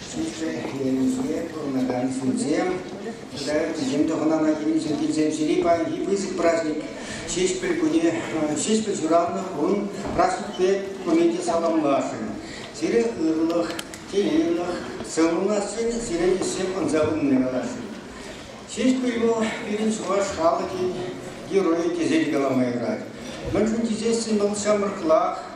Ҫитменлӗхе пурӑнакансенчен тата вӗсем тӑхӑнана килнӗҫем килсем ҫири паянхи пысӑк праҫник Ҫеҫпӗл кунӗ, Ҫеҫпӗл ҫуралнӑ кун праҫникпе куни те саламласшӑн. Сире ырлӑх, телейлӗх, сывлӑнасшӑн, сире ӗҫсем ӑнса пынине каласшӑн. Ҫеҫпӗл вӑл пирӗн чӑваш халӑхӗн геройӗ тесе калама юрать. Мӗншӗн тесессӗн вӑл ҫамрӑклах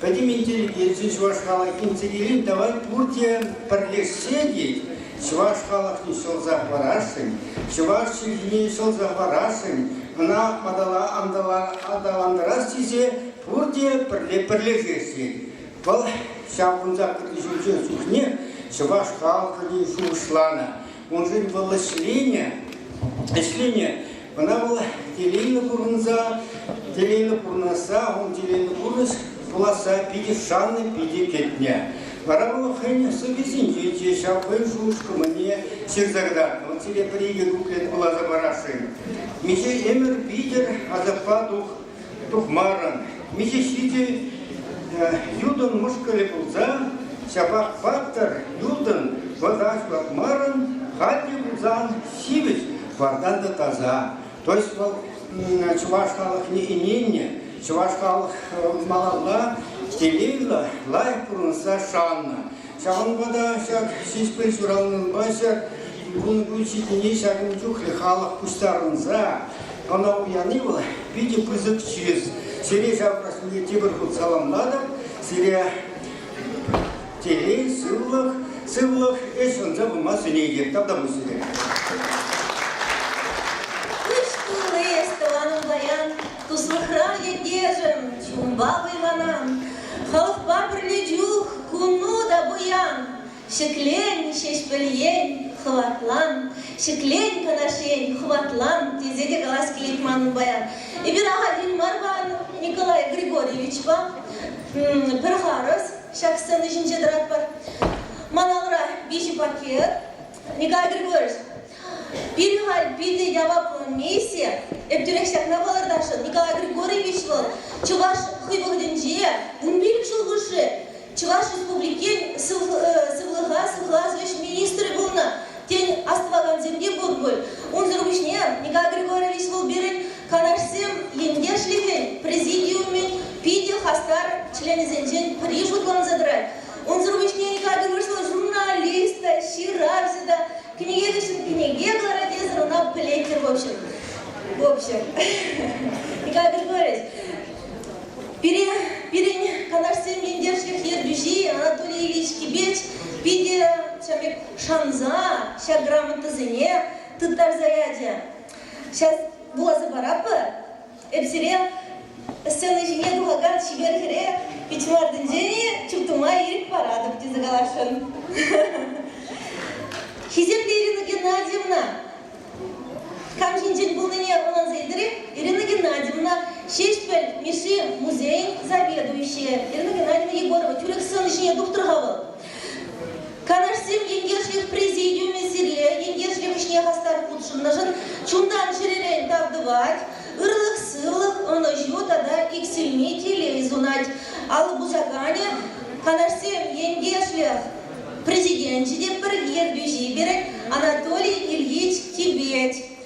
Пӗтӗм интеллигенци чӑваш халӑхӗн тӗнӗрин тӑван пурте пӗрлешсе те чӑваш халӑхне ҫӑлса хӑварасшӑн, чӑваш чӗлхине ҫӑлса хӑварасшӑн, ӑна атала аталантарас тесе пурте пӗрле пӗрлешесшӗн. Вӑл ҫаврӑнса кӗтнӗ ҫулсен чухне чӑваш халӑхне шухӑшланӑ. Уншӑн вӑл ӗҫленӗ, ӗҫленӗ. Ӑна вӑл телейлӗ пурӑнса, телейлӗ пурӑнасса, ун телейлӗ пурнӑҫ пуласса питӗ шаннӑ, питӗ кӗтнӗ. Вара вӑл хӑйӗн сӑввисенче те ҫав хӑйӗн шухӑш-кӑмӑлне ҫырса кӑтартнӑ. Вӑл сире пӗр-икӗ куплет вуласа парасшӑн. Миҫе ӗмӗр витӗр асаппа тух тухмарӑн. Миҫе ҫити Юдӑн мӑшкӑлӗ пулса, ҫапах паттӑр Юдӑн вӑта ҫуратмарӑн, халь те пулсан ҫивӗч вартан та таса. То есть вӑл чӑваш халӑхне ӗненнӗ, чӑваш халӑх малалла телейлӗ, лайӑх пурӑнса шаннӑ. Ҫавӑнпа та ҫак Ҫеҫпӗл ҫуралнӑнпа ҫак ун ун ҫитӗнни ҫакӑн чухлӗ халӑх пуҫтарӑнса ӑна уяни вӑл питӗ пысӑк чыс. Сире ҫаврашне тепӗр хут саламлатӑп. Сире телей, сывлӑх, сывлӑх, ӗҫ ӑнса пыма сӗнетӗп. Тавта пуҫ сире. Уш тулли эс тӑванӑм паян Туслӑхра ятешӗм, чунпа вӑйланан, Халӑхпа пӗрле чух куну та пуян. Ҫӗклен, Ҫеҫпӗл ен, хӑватлан, Ҫӗклен, Канаш ен, хӑватлан, тесе те калас килет манӑн паян. Эпир ахальтен мар-ха Николай Григорьевичпа пӗр харӑс ҫак сцена ҫинче тӑратпӑр. Ман алӑра виҫӗ пакет. Николай Григорьевич, Пирӗн валли питӗ яваплӑ миссия. Эп тӳрех ҫакна палӑртасшӑн. Николай Григорьевич вӑл чӑваш хӑй вӑхӑтӗнче, вун пилӗк ҫул хушши Чӑваш Республикин сывлӑха сыхлас ӗҫ министрӗ пулнӑ. Тен, астӑвакансем те пур пуль. Унсӑр пуҫне Николай Григорьевич вӑл пирӗн канашсем ентешлӗхӗн президиумӗн питӗ хастар членӗсенчен пӗри шутланса тӑрать. Унсӑр пуҫне Николай Григорьевич вӑл журналист та, ҫыравҫӑ та, Кӗнекесен кӗнеке кӑларать тесен ӑна пӗлетчӗр в общем. В общем. Николай Григорьевич, пире, пирӗн канашсен ентешлӗх ертӳҫи Анатолий Ильич Кибеч питӗ ҫамек шанса ҫак грамотӑсене тыттарса ячӗ. Сейчас вуласа паратпӑр. Эп сире сцена ҫине тухакан чипер хӗре пит ҫӑмартинчен чуптума ирӗк паратӑп тесе каласшӑн. Хисеплӗ Ирина Геннадьевна, кам ҫинчен пулнине ӑнланса илтерех. Ирина Геннадьевна, Ҫеҫпӗл Мишши музейӗн заведующийӗ. Ирина Геннадьевна Егорова, тӳрех сцена ҫине тухтӑр-ха вӑл. Канашсем ентешлӗх президиумӗ сире ентешлӗх ӗҫне хастар хутшӑннӑшӑн чунтан чӗререн тав тӑвать, ырлӑх, сывлӑх, ӑнӑҫу тата иксӗлми телей сунать. Алӑ пусаканӗ канашсем ентешлӗх президенчӗ те пӗр ертӳҫи пирӗн Анатолий Ильич Тибет.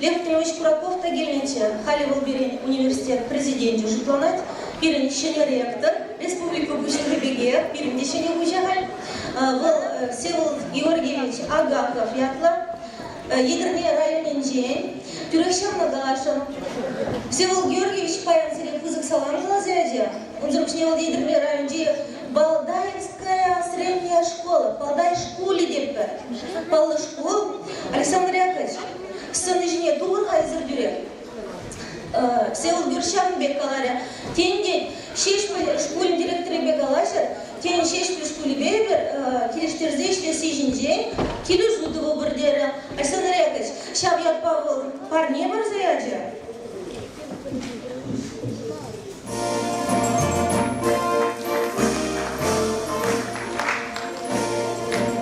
Лев Петрович Кураков та килнӗччӗ. Халӗ вӑл пирӗн университет президенчӗ шутланать. Пирӗн ҫӗнӗ ректор, республика пуҫлӑхӗ пекех, пирӗн те ҫӗнӗ пуҫӗ халь. Вӑл Всеволод Георгиевич Агаков ятлӑ. Етӗрне районӗнчен. Тӳрех ҫырнӑ каласшӑн. Всеволод Георгиевич паян сире пысӑк салам ҫулас ячӗ. Унсӑр пуҫне вӑл Етӗрне районӗнчи Балдаевская средняя школа, Балдай шкулӗ тетпӗр. Паллӑ шкул. Александр Яковлевич, сцена ҫине тулӑха эсир тӳре. Сеул Гюрчан пек каларӗ. Тен, тен, Ҫеҫпӗл шкулӗн директорӗпе калаҫӑр. Тен, Ҫеҫпӗл шкулӗпе эпир килӗштерсе ӗҫлесси ҫинчен килӗ сутӑвӑпӑр терӗ. Александр Яковлевич, ҫав ятпа вӑл парне парса ячӗ.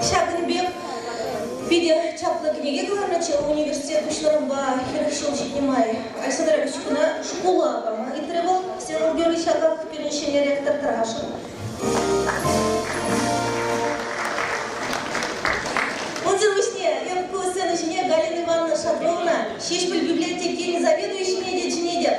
Ҫакӑн пек питӗ чаплӑ кӗнеке кӑларнӑччӗ университет пуҫлӑхӑмпа хӗрӗх ҫул ҫитнӗ май. Александр Ильич куна шкула пама ыйтрӗ вӑл. Всеволод Георгиевич ҫаках пирӗн ҫӗнӗ ректор тӑрашӑн. Унсӑр пуҫне ку сцена ҫине Галина Ивановна Шатровна Ҫеҫпӗл библиотекин заведующине те чӗнетӗп.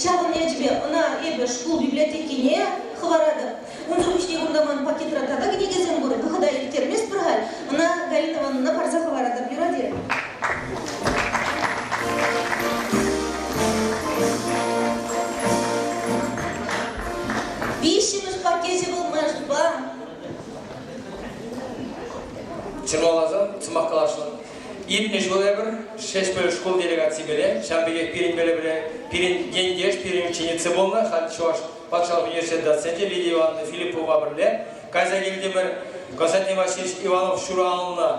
Ҫавӑн ячӗпе ӑна эпӗ шкул библиотекине хӑваратӑп. Унсӑр пуҫне кунта ман пакетра тата кӗнекесем пур. Вӑхӑта ирттерместпӗр халь. Ӑна Галина Ивановнӑна парса хӑваратӑп юрати. Виҫҫӗмӗш пакечӗ вӑл маншӑнпа. Ҫырмаласан сӑмах каласшӑн. Иртнӗ ҫул эпӗр Шествель шкул делегацийӗпе ҫав пекех пирӗн пӗлӗвре, пирӗн ентеш, пирӗн ученица пулнӑ, халь Чӑваш патшалӑх университет доценчӗ Лидия Ивановна Филиппова пӗрле кайса килтӗмӗр. Константин Васильевич Иванов ҫуралнӑ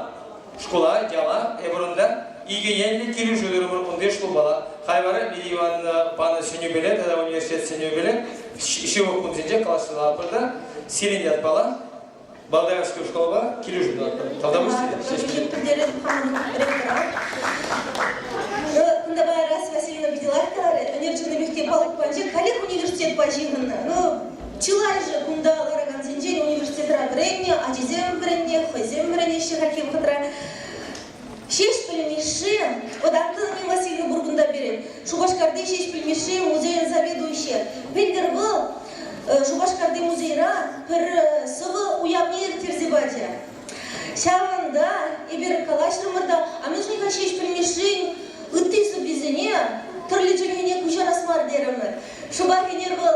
шкула яла эпӗр унта икӗ енлӗ килӗшӳ турӑмӑр кунти шкулпа. Хай вара Лидия Ивановна панӑ сӗнӳпеле тата университет сӗнӳпеле ҫывӑх кунсенче класлатпӑр та сирӗн ятпала Болгарскую школпа килӗшӳ тӑватпӑр. Тавтапуҫ тетӗр. Ҫеҫ пӗлтеретӗп хамӑн ректора. Кунтапа Расия Васильевна питӗ лайӑхтарӗ. Ӳнерҫӗллӗ мехке палук панчӗ. Каллех университетпа ҫыхӑннӑ. Ну, чылай же кунта ларакансенчен университетра вӗреннӗ, ачисем вӗреннӗ, хӑйсем вӗренеҫҫӗ хальхи вӑхӑтра. Ҫеҫпӗл Мишши вӑтантан Нил Васильевна пирӗн Шупашкарти Ҫеҫпӗл Мишши музейӗн заведующийӗ. Пӗлтӗр вӑл Шупашкарти музейра пӗр сӑвӑ уявне ирттерсе пачӗ. Ҫавӑнта эпир калаҫрӑмӑр та, а мӗншӗн-ха Ҫеҫпӗл Мишшин ытти сӑввисене тӗрлӗ чӗлхене куҫарас мар терӗмӗр. Шӑпах ӗнер вӑл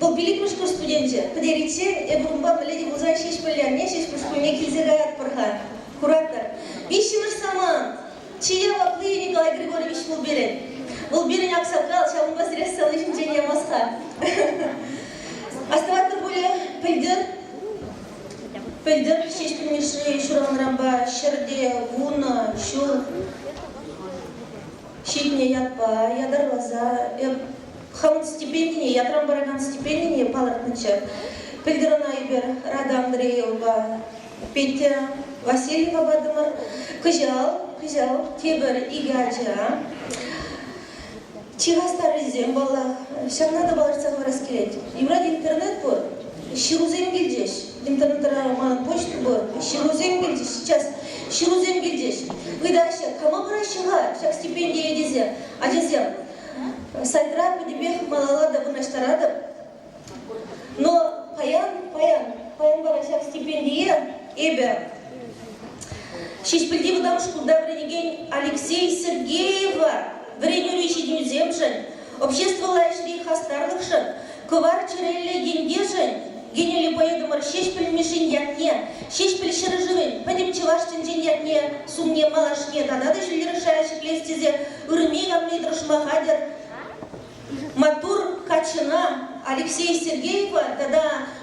Вӑл пилӗкмӗш курс студенчӗ. Пӗтериччен эпӗ унпа пӗле те пулсан Ҫеҫпӗле анне Ҫеҫпӗл шкулне килсе каятпӑр-ха. Куратӑр, виҫҫӗмӗш самант чи явапли Николай Григорьевич вӑл пирӗн. Вӑл пирӗн аксакал, ҫавӑнпа сире сывлӑш ҫинчен ямасха. Астӑватӑр пулӗ, пӗлтӗр пӗлтӗр Ҫеҫпӗл Мишши ҫуралнӑранпа ҫӗрте вунӑ ҫул ҫитнӗ ятпа ятарласа эп хӑвӑн стипендине, ятран паракан стипендине палӑртнӑччӗ. Пӗлтӗр ӑна эпир Рада Андреевӑпа Петя Васильевапатӑмӑр. Кӑҫал, кӑҫал тепӗр икӗ ача. Чи хастаррисем, паллах, ҫавна та палӑртса хӑварас килет. Юрать, интернет пур, ҫырусем килчӗҫ. интернетра мана почта пур, ҫырусем килчӗҫ сейчас, ҫырусем килчӗҫ. Ыйтаҫҫӗ, кама параҫҫӗ-ха ҫак стипендие тесе. Ачасем, сайтра пӗтӗмпех малалла та вырнаҫтаратӑп. Но паян, паян, паян вара ҫак стипендие эпӗ Ҫеҫпӗлти вӑтам шкулта вӗренекен Алексей Сергеева вӗренӳри ҫитӗнӳсемшӗн обществӑлла ӗҫри хастарлӑхшӑн, кӑвар чӗреллӗ ентешӗн Генерӗле поэтӑмӑр Ҫеҫпӗл Мишшин ятне, Ҫеҫпӗл ҫӗршывӗн пӗтӗм чӑваш тӗнчин ятне сумне малашне тата та ҫӗнтерес шая ҫӗклес тесе ыррине явни тӑрӑшма хатӗр. Маттур каччӑна Алексей Сергеева тата